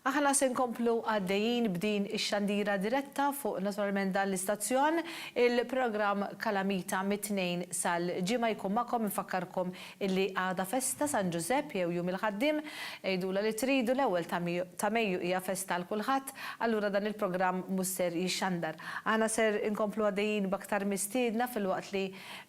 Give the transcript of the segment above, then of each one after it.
Aħna se nkomplu għaddejjin b'din ix-xandira diretta fuq naturalment dan l-istazzjon. Il-programm Kalamita mit-Tnejn sal-Ġimgħa jkun magħkom. Infakkarkom illi għada festa San Ġużepp jew Jum il-Ħaddiem. Għidula li tridu, l-ewwel ta' Mejju hija festa għal kulħadd, allura dan il-programm mhux ser jixxandar. Aħna ser inkomplu għaddejjin b'aktar mistiedna filwaqt li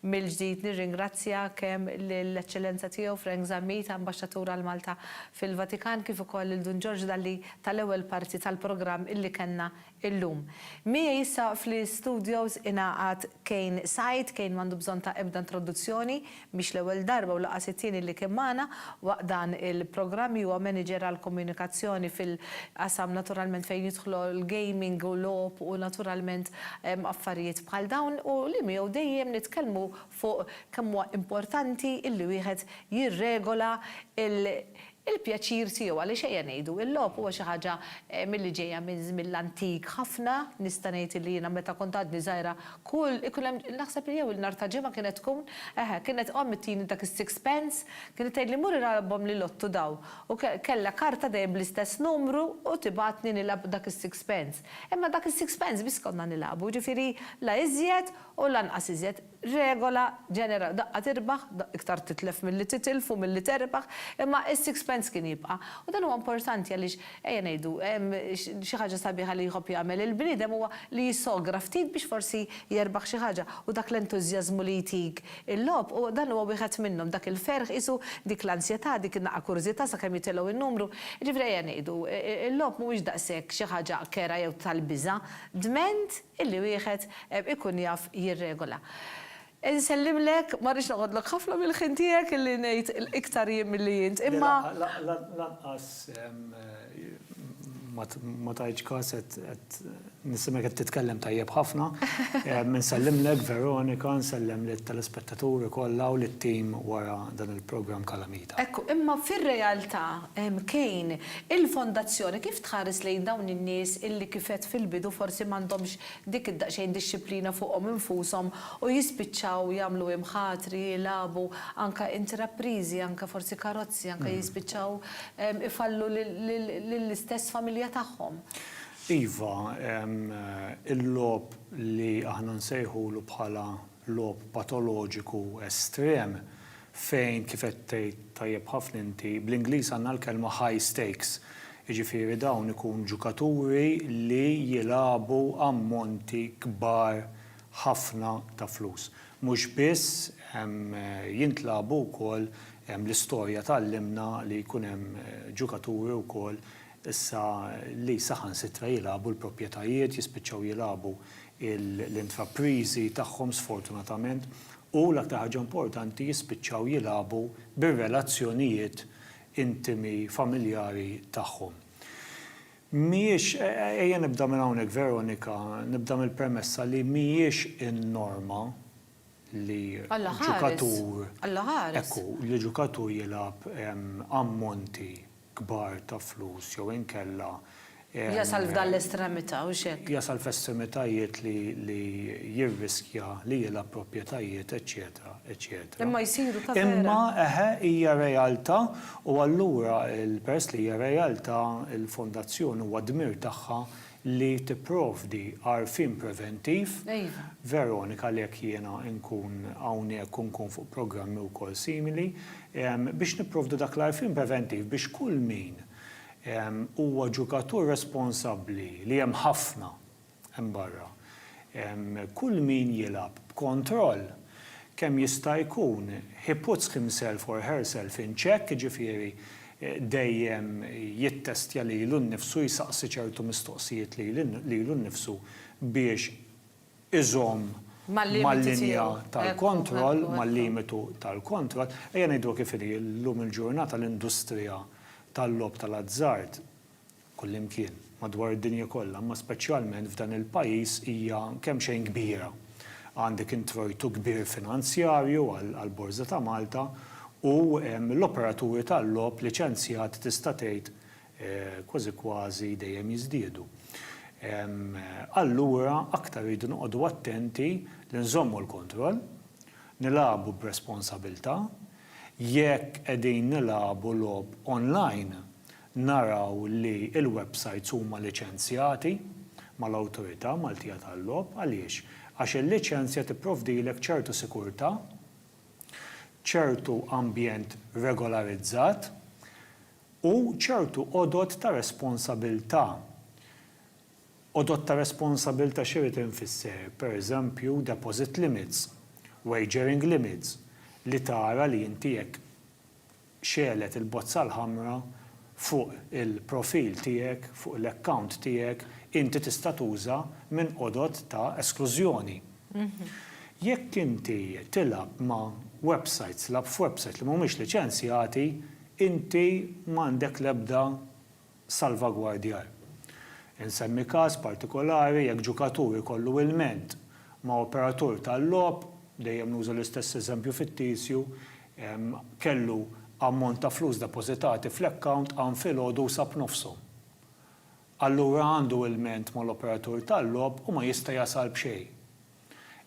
mill-ġdid nirringrazzja kemm lill-Eċċellenza Tiegħu Frank Zammit, Ambaxxatur għal Malta fil-Vatikan kif ukoll lil Dun Ġorġ Dalli tal-ewwel parti tal-programm illi kellna illum. Miegħi issa fl-istudios ingħaqad Kane Said, Kane m'għandu bżonn ta' ebda introduzzjoni, mhix l-ewwel darba u lanqas it-tieni li kien magħna waqt dan il-programm, huwa manager għall-komunikazzjoni fil-qasam naturalment fejn jidħlu l-gaming u logħob u naturalment affarijiet bħal dawn u li miegħu dejjem nitkellmu fuq kemm huwa importanti illi wieħed jirregola l-pjaċir tiegħu għaliex ejja ngħidu, il-logħob huwa xi ħaġa milli ġejja minn żmien l-antik ħafna, nista' ngħid illi jiena meta kont għadni żgħira kull ikun hemm naħseb li jew il-nhar ta' Ġimgħa kienet tkun, eħe, kienet omm ittini dak is-six pence, kienet tgħidli mur ilgħabhom l-lottu dawn u kellha karta dejjem bl-istess numru u tibgħatni nilgħab dak is-six pence. Imma dak is-six pence biss konna nilgħabu, jiġifieri la iżjed u lanqas iżjed, regola ġenerali, daqqa tirbaħ, iktar titlef milli titilf u milli terbaħ, imma s-sixpence kien jibqa'. U dan huwa importanti għaliex, ejja ngħidu, xi ħaġa sabiħa li jħobb jagħmel il-bniedem huwa li jissogra ftit biex forsi jerbaħ xi ħaġa u dak l-entużjażmu li jtik il-logħob huwa, dan huwa wieħed minnhom, dak il-ferħ qisu, dik l-ansjetà, dik in-naqqa kurżità sakemm jitilgħu n-numru. Jiġifieri ejja ngħidu, il-logħob mhuwiex daqshekk xi ħaġa kerha jew tal-biża'. Dment? illi wieħed ikun jaf jirregola. Insellimlek, ma rridx noħodlok ħafna mill-ħin tiegħek illi ngħid iktar jien milli int, imma. Le, lanqas ma tajtx kas qed nisimgħek qed titkellem tajjeb ħafna. Insellimlek Veronika, nsellem lit-telespettaturi kollha u lit-tim wara dan il-programm Kalamita. Ekku, imma fir-realtà, Kane, Il-Fondazzjoni kif tħares lejn dawn in-nies illi kif għedt fil-bidu forsi m'għandhomx dik id-daqsxejn dixxiplina fuqhom infushom u jispiċċaw jagħmlu imħatri, jilagħbu, anke intrapriżi, anke forsi karozzi, anke jispiċċaw ifallu lill-istess familja tagħhom? Iva, il-logħob li aħna nsejħulu bħala logħob patoloġiku estrem fejn kif qed tgħid tajjeb ħafna inti, bl-Ingliż għandna l-kelma high stakes, jiġifieri dawn ikun ġukaturi li jilagħbu ammonti kbar ħafna ta' flus. Mhux biss jintlagħbu wkoll l-istorja tgħallimna li jkun hemm ġukaturi wkoll issa li saħansitra jilagħbu l-proprjetajiet, jispiċċaw jilagħbu l-intrapriżi tagħhom sfortunatament. u, l-aktar ħaġa importanti, jispiċċaw jilagħbu bir-relazzjonijiet intimi familjari tagħhom. Mhijiex, ejja nibda minn hawnhekk Veronika, nibda mill-premessa li mhijiex in-norma li ġukatur, ekku, li ġukatur jilgħab ammonti. kbar ta' flus jew inkella Jasal f'dan l-estremità, hux hekk? Jasal f'estremitajiet li li jirriskja li jilgħab proprjetajiet eċċetera eċċetera. Imma jsiru ta' vera. Imma eħe hija realtà u allura peress li hija realtà il-fondazzjoni huwa dmir tagħha li tipprovdi għarfien preventiv. Iva. Veronika għalhekk jiena nkun hawnhekk u nkun fuq programmi wkoll simili biex nipprovdu dak l-għarfien preventiv biex kull min huwa ġukatur responsabbli li hemm ħafna hemm barra, kull min jilgħab b'kontroll kemm jista' jkun he puts himself or herself in check jiġifieri dejjem jittestja lilu nnifsu, jsaqsi ċertu mistoqsijiet lilu nnifsu biex iżomm mal-linja tal-kontroll, mal-limitu tal-kontroll. Ejja ngħiduha kif inhi, illum il-ġurnata l-industrija tal-logħob tal-azzard kullimkien madwar id-dinja kollha, imma speċjalment f'dan il-pajjiż hija kemxejn kbira. Għandek introjtu kbir finanzjarju għall-Borża ta' Malta u l-operaturi tal-logħob liċenzjati tista' tgħid kważi kważi dejjem jiżdiedu. Allura aktar irridu noqogħdu attenti li nżommu l-kontroll, nilagħbu b'responsabilità. Jekk qegħdin nilagħbu logħob online, naraw li l-websajts huma liċenzjati mal-Awtorità Maltija tal-Logħob. Għaliex? Għax il-liċenzja tipprovdilek ċertu sikurtà, ċertu ambjent regolarizzat u ċertu għodod ta' responsabilità. Għodod ta' responsabilità x'irid infisser? Pereżempju, deposit limits, wagering limits, li tara li inti jekk xegħlet il-bozza l-ħamra fuq il-profil tiegħek, fuq l-account tiegħek, inti tista' tuża minn għodod ta' esklużjoni. Jekk inti tilgħab ma' websajts, lagħab f'websajts li mhumiex liċenzjati, inti m'għandek l-ebda salvagwardjar. Insemmi każ partikolari, jekk ġukatur ikollu ilment ma' operatur tal-logħob, dejjem nuża l-istess eżempju fittizju, kellu ammont ta' flus depożitati fl-account hawn filgħodu u sab nofshom. Allura għandu ilment mal-operatur tal-logħob u ma jista' jasal b'xejn.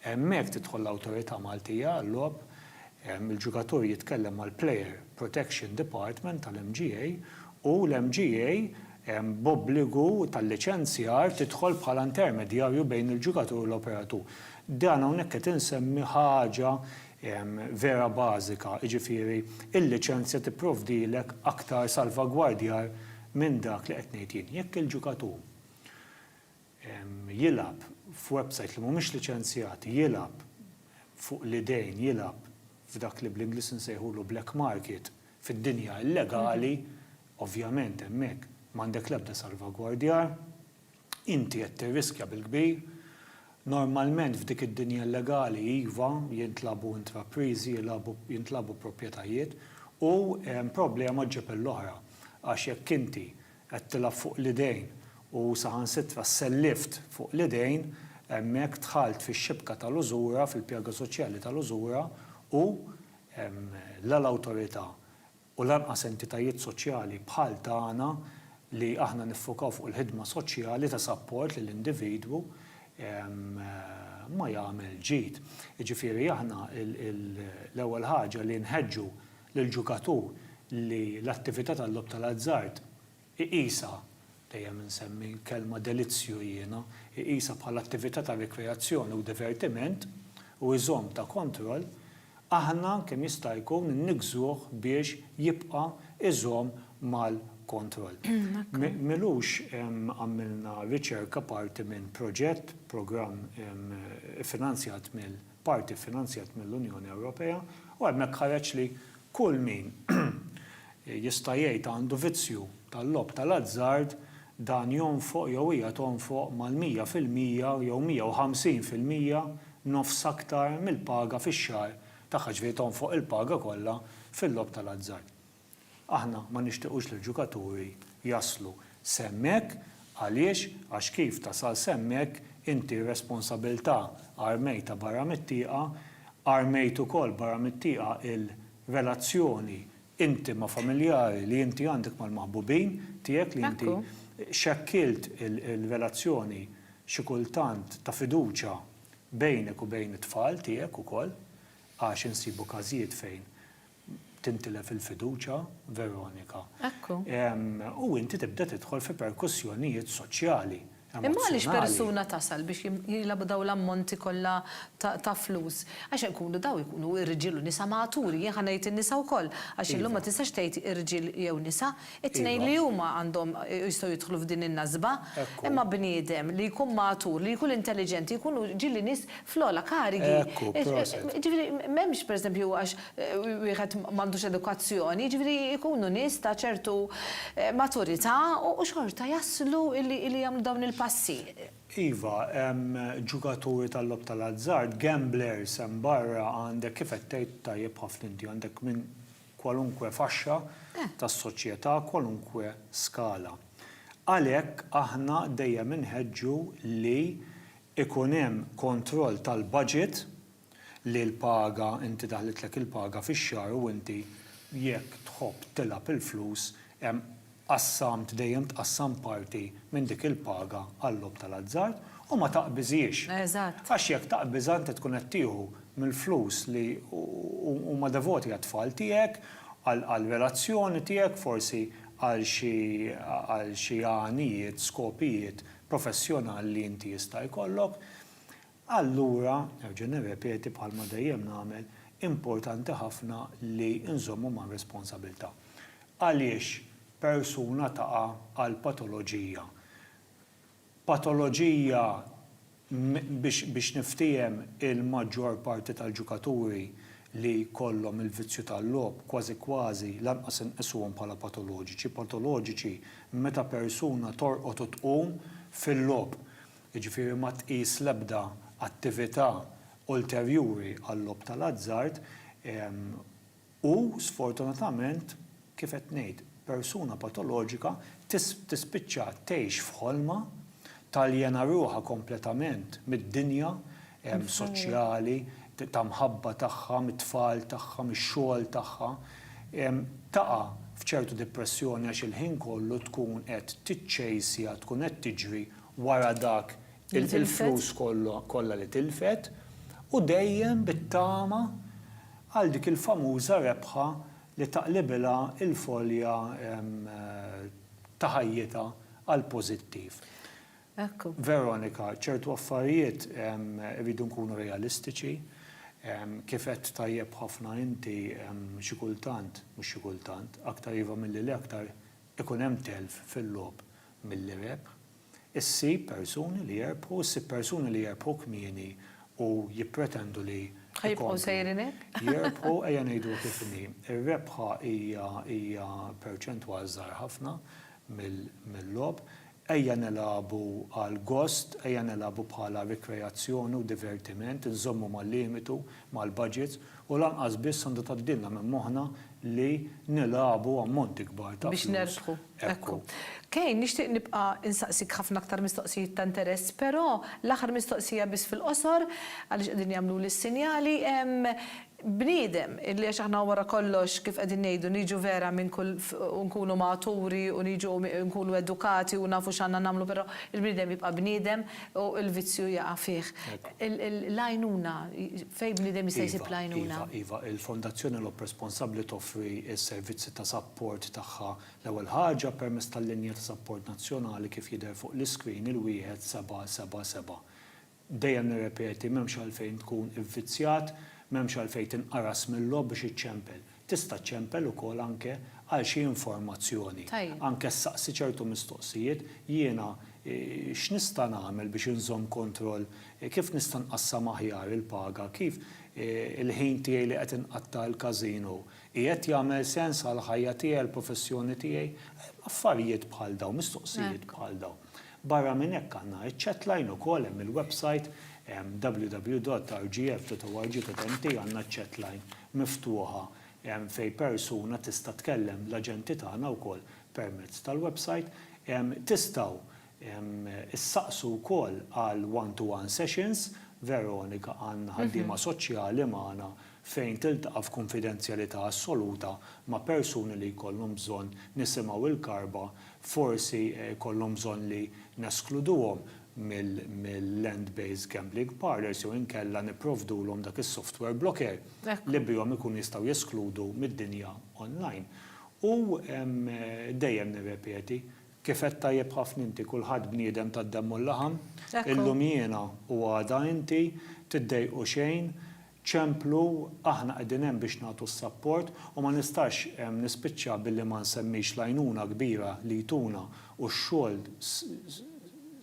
Hemmhekk tidħol l-Awtorità Maltija għal-Logħob, il-ġugatur jitkellem mal-Player Protection Department tal-MGA u l-MGA b'obbligu tal-liċenzjar tidħol bħala intermedjarju bejn il-ġugatur u l-operatur. Dan hawnhekk qed insemmi ħaġa vera bażika, jiġifieri l-liċenzja tipprovdilek aktar salvagwardjar minn dak li qed ngħid jien. Jekk il-ġugatur jilgħab f'websajt li mhumiex liċenzjati, jilgħab fuq l-idejn, jilgħab f'dak li bl-Ingliż insejħulu black market, fid-dinja illegali, ovvjament hemmhekk m'għandek l-ebda salvagwardjar, inti qed tirriskja bil-kbir. Normalment f'dik id-dinja illegali, iva, jintlagħbu intrapriżi, jilgħabu, jintlagħbu proprjetajiet u problema ġġib l-oħra għax jekk inti Qed tilgħab fuq l-idejn u saħansitra sellift fuq l-idejn, hemmhekk dħalt fix-xibka tal-użura, fil-pjaga soċjali tal-użura u la l-Awtorità u lanqas entitajiet soċjali bħal tagħna li aħna niffukaw fuq il-ħidma soċjali ta' sapport lill-individwu ma jagħmel ġid. Jiġifieri aħna l-ewwel ħaġa li nħeġġu lill-ġukatur li l-attività tal-logħob tal-azzard iqisha, dejjem insemmi l-kelma delizzju jiena, iqisha bħala attività ta' rikreazzjoni u divertiment u jżomm ta' kontroll, aħna kemm jista' jkun inniggżuh biex jibqa' jżomm mal-kontroll. M'ilux għamilna riċerka parti minn proġett, programm iffinanzjat mill. parti ffinanzjat mill-Unjoni Ewropea, u hemmhekk ħareġ li kull min jista' jgħid għandu vizzju tal-logħob tal-azzard dan jonfoq jew hija tonfoq mal-mija fil-mija jew mija u ħamsin fil-mija, nofs aktar, mill-paga fix-xahar tagħha, ġifieri tonfoq il-paga kollha fil-logħob tal-azzard. Aħna ma nixtiqux li l-ġukaturi jaslu s'hemmhekk, għaliex, għax kif tasal s'hemmhekk inti r-responsabilità armejtha barra mit-tieqa, armejt ukoll barra mit-tieqa il-relazzjoni intima familjari li inti għandek mal-maħbubin tiegħek li inti xekkilt il-relazzjoni xi kultant ta' fiduċja bejnek u bejn it-tfal tiegħek ukoll, għax insibu każijiet fejn tintilef il-fiduċja, Veronika. Ekku. U inti tibda tidħol fi perkussjonijiet soċjali. Imma għaliex persuna tasal biex jilgħabu dawn l-ammonti kollha ta' flus? Għax ikunu dawn ikunu irġiel u nisa maturi, jien ħa ngħid in-nisa wkoll, għax illum ma tistax tgħid irġiel jew nisa, It-tnejn li huma għandhom jistgħu jidħlu f'din in-nasba. Imma bniedem li jkun magħtur, li jkun intelliġenti jkunu ġieli nies fl-ogħla karigi. Jiġifieri m'hemmx pereżempju għax wieħed m'għandux edukazzjoni, jiġifieri jkunu nies ta' ċertu maturità u xorta jaslu li jagħmlu dawn il-passi. Iva, hemm ġugaturi tal-logħob tal-azzard, gamblers hemm barra, għandek kif qed tgħid tajjeb ħafna inti, għandek minn kwalunkwe faxxa tas-soċjetà, kwalunkwe skala. Għalhekk aħna dejjem inħeġġu li jkun hemm kontroll tal-baġit li l-paga, inti daħlitlek il-paga fix-xahar u inti jekk tħobb tilgħab il-flus hemm qassamt, dejjem tqassam parti minn dik il-paga għal-logħob tal-azzard u ma taqbiżhiex. Eżatt. Għax jekk taqbiżha inti tkun qed tieħu mill-flus li huma devoti għat-tfal tiegħek, għall-relazzjoni tiegħek, forsi għal xi għal xi għanijiet, skopijiet professjonali li inti jista' jkollok. Allura, nerġa' nirrepeti bħalma dejjem nagħmel, importanti ħafna li nżommu mar-responsabilità. Għaliex persuna taqa' għal patoloġija? Patoloġija, biex niftiehem, il-maġġor parti tal-ġukaturi li jkollhom il-vizzju tal-logħob, kważi kważi, lanqas inqisuhom bħala patoloġiċi. Patoloġiċi meta persuna torqod u tqum fil-logħob. jiġifieri ma tqis l-ebda attività ulterjuri għal-logħob tal-azzard, u sfortunatament, kif qed ngħid, persuna patoloġika tispiċċa tgħix f'ħolma, taljena ruħha kompletament mid-dinja soċjali, ta' mħabba tagħha, mit-tfal tagħha, mix-xogħol tagħha, taqa' f'ċertu dipressjoni għax il-ħin kollu tkun qed tiċċejsja, tkun qed tiġri wara dak il-flus kollha li tilfet u dejjem bit-tama għal dik il-famuża rebħa li taqlibilha l-folja ta' ħajjitha għall-pożittiv. Veronika, ċertu affarijiet irridu nkunu realistiċi, kif għedt tajjeb ħafna inti xi kultant, mhux xi kultant, aktar iva milli le aktar ikun hemm telf fil-logħob milli rebħ, issib persuni li jerbħu, issib persuni li jerbħu kmieni u jippretendu li jkomplu jerbħu, ejja ngħidu kif inhi, ir-rebħa hija perċentwal żgħar ħafna mill-logħob, Ejja nilagħbu għal gost, ejja nilagħbu bħala rikreazzjoni u divertiment, inżommu mal-limitu, mal-budgets, u lanqas biss għandu tgħaddilna minn moħħna li nilagħbu ammonti kbar ta' flus. Biex nerbħu. Ekku. Kane, nixtieq nibqa' insaqsik ħafna aktar mistoqsijiet ta' interess, però l-aħħar mistoqsija biss fil-qosor, għaliex qegħdin jagħmluli s-sinjali, Bniedem, illi għax aħna wara kollox, kif qegħdin ngħidu, niġu vera minn kull f, u nkunu maturi u niġu u nkunu edukati u nafu x'għandna nagħmlu però il-bniedem jibqa' bniedem u l-vizzju jaqa' fih. L-għajnuna, fejn bniedem jista' jsib l-għajnuna? Iva, iva, iva, il-Fondazzjoni L-Għob Responsabbli toffri s-servizzi ta' sapport tagħha l-ewwel ħaġa permezz tal-linja ta' sapport nazzjonali kif jidher fuq l-iscreen il-wieħed seba' seba' seba'. Dejjem nirrepeti, m'hemmx għalfejn tkun ivvizzjat, m'hemmx għalfejn tinqaras mil-logħob biex iċċempel. Tista' ċċempel ukoll anke għal xi informazzjoni. Tajjeb. Anke ssaqsi ċertu mistoqsijiet, jiena x'nista' nagħmel biex inżomm kontroll, kif nista' nqassam aħjar il-paga, kif il-ħin tiegħi li qed inqatta' għall-każino qiegħed jagħmel sens għall-ħajja tiegħi, għall-professjoni tiegħi. Affarijiet bħal dawn, mistoqsijiet bħal dawn. Barra minn hekk għandna iċ-chatline ukoll hemm il-websajt www.rgf.org.mt għandna ċ-chatline miftuħa fejn persuna tista' tkellem l-aġenti tagħna wkoll permezz tal-websajt. Tistgħu ssaqsu wkoll għal one to one sessions, Veronika Ann ħaddiema soċjali magħna fejn tiltaqa' f'kunfidenzjalità assoluta ma' persuni li jkollhom bżonn nisimgħu l-karba forsi jkollhom bżonn li neskluduhom mill-land based gambling parlours jew inkella nipprovdulhom dak is-software blocker li bihom ikunu jistgħu jeskludu mid-dinja online. U dejjem nirrepeti, kif għedt tajjeb ħafna inti, kulħadd bniedem tad-demm u l-laħam, illum jiena u għada inti, tiddejqu xejn, ċemplu, aħna qegħdin hemm biex nagħtu s-sapport u ma nistax nispiċċa billi ma nsemmix l-għajnuna kbira li jtuna u x-xogħol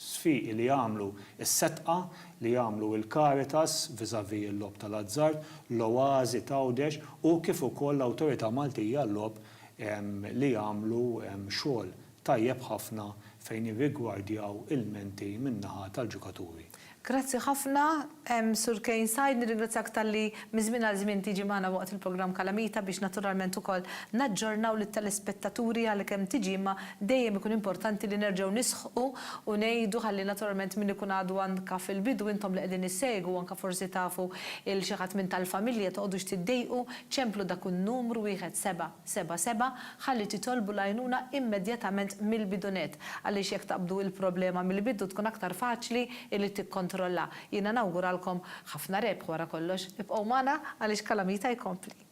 sfiqi li jagħmlu s-setqa li jagħmlu l-Caritas vis-à-vis il-logħob tal-azzard, l-Oasi t'Għawdex u kif ukoll l-Awtorità Maltija għal-Logħob li jagħmlu xogħol Tajjeb ħafna fejn irrigwardjaw ilmenti min-naħa tal-ġukaturi. Grazzi ħafna, Sur Kane Said, nirringrazzjak talli minn żmien għal żmien tiġi magħna waqt il-programm Kalamita biex naturalment ukoll naġġornaw lit-telespettaturi għalkemm tiġi imma dejjem ikun importanti li nerġgħu nisħqu u ngħidu ħalli naturalment min ikun għadu anke fil-bidu intom li qegħdin issegwu anke forsi tafu 'l xi ħadd minn tal-familja toqgħodux tiddejqu ċemplu dak in-numru wieħed seba'. Seba' Seba' ħalli titolbu l-għajnuna immedjatament mill-bidunett għaliex jekk taqbdu il-problema mill-bidu tkun aktar faċli illi tikkontrolla. Jiena nawguralkom ħafna rebħ wara kollox. Ibqgħu magħna għaliex Calamita jkompli.